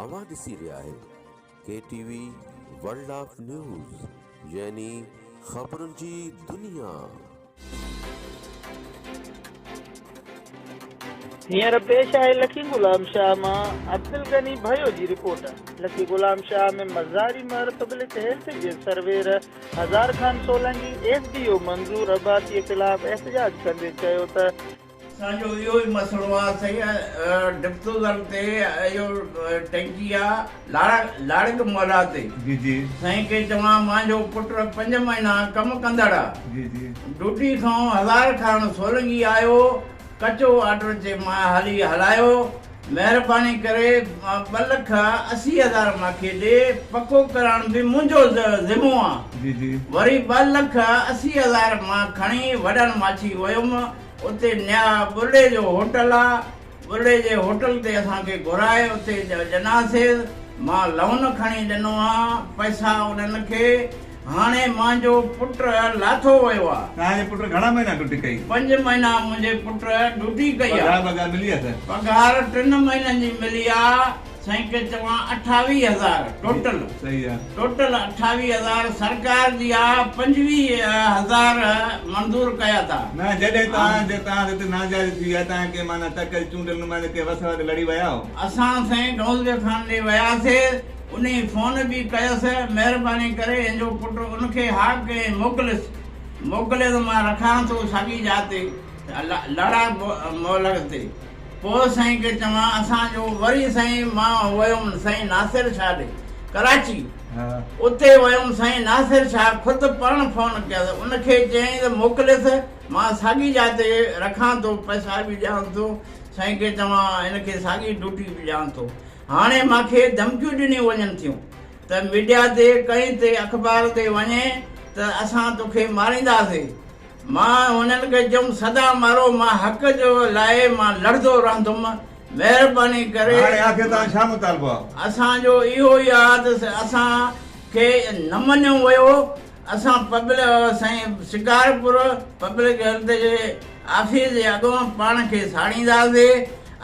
اوهان ڏسي رهيا آهيو K T V world of news يعني خبرن جي دنيا. هينئر پيش آهي لڪي غلام شاهه مان عبدالغني ڀيو جي report. Lakki Ghulam Shah ۾ Mazari Mehar public health جي surveyor Hazar Khan Solangi S D O Manzoor Abbasi خلاف احتجاج ڪندي چيو ته اسان جو اهو ئي مسئلو آ سائين ڊپسوزن تي اهو ٽئنڪي آ لاڙا لاڙڪ مولا تي جي جي سائين کي چوان مانجو پٽ پنج مهينا ڪم ڪندڙ آ جي جي ڊوٽي سون هزار کان سولنگي آيو ڪچو آرڊر چي مان هلي هلايو مهرباني ڪري ٻه لک اسي هزار ماکي ڏي پڪو ڪرائڻ به منهنجو ذمو آ وري ٻه لک اسي هزار مان کڻي وڏن ماڇي ويم اتي نيا ٻرڙي جو هوٽل آ ٻرڙي جي هوٽل تي اسان کي گهرائي اتي ڏناسيز مان لون کڻي ڏنو آ پئسا انهن کي هاڻي مانجو پٽ لاٿو ويو آ. توهان جي پٽ گهڻا مهينا ڊوٽي ڪئي؟ پنج مهينا منهنجي پٽ ڊوٽي ڪئي آ. پگهار بگهار ملي آ سائين؟ پگهار ٽن مهينن جي ملي آ سائين ڪي چوان اٺاويهه هزار ٽوٽل. صحيح آ. ٽوٽل اٺاويهه هزار سرڪار جي آ پنجويهه هزار منظور ڪيا ٿا. نه جڏهن توهان جي توهان هتي ناجائز ٿي ويا توهان ڪي معنيٰ تڪ چونڊيل نمائنده ڪي وس وٽ لڙي ويا هو؟ اسان سائين ڊونزوي خان ڏي وياسي انهي فون به ڪيس، مهرباني ڪري انجو پٽ ان کي ها ڪهين موڪليس، موڪليس مان رکان ٿو ساڳي جاء تي لڙا مولڪ تي، پوء سائين کي چوان اسان جو، وري سائين مان ويم سائين ناصر شاهه ڏي ڪراچي، اتي ويم سائين ناصر شاهه خود پاڻ فون ڪيس، ان کي چيائين ته موڪليس مان ساڳي جاء تي رکان ٿو، پئسا به ڏيانس ٿو، سائين کي چوان ان کي ساڳي ڊوٽي به ڏيان ٿو، هاڻي مان کي ڌمڪيون ڏنيون وڃن ٿيون ته ميڊيا تي ڪنهن تي اخبار تي وڃي ته اسان توکي مارينداسي مان هنن کي چيم سدا مارو مان حق جو لاء مان لڙندو رهندم مهرباني ڪري هاڻي آخر توهان ڇا مطالبو آهي؟ اسان جو اهو ئي آهي ته اسان کي نه مڃيو ويو اسان پبل سائين شڪارپور پبلڪ هيلٿ جي آفيس جي اڳيان پاڻ کي ساڙينداسي.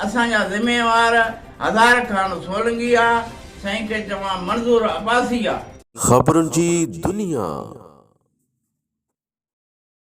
اسان جا ذميوار هزار خان سولنگي آ سائين کي چوان منظور عباسي آ. خبرن جي دنيا.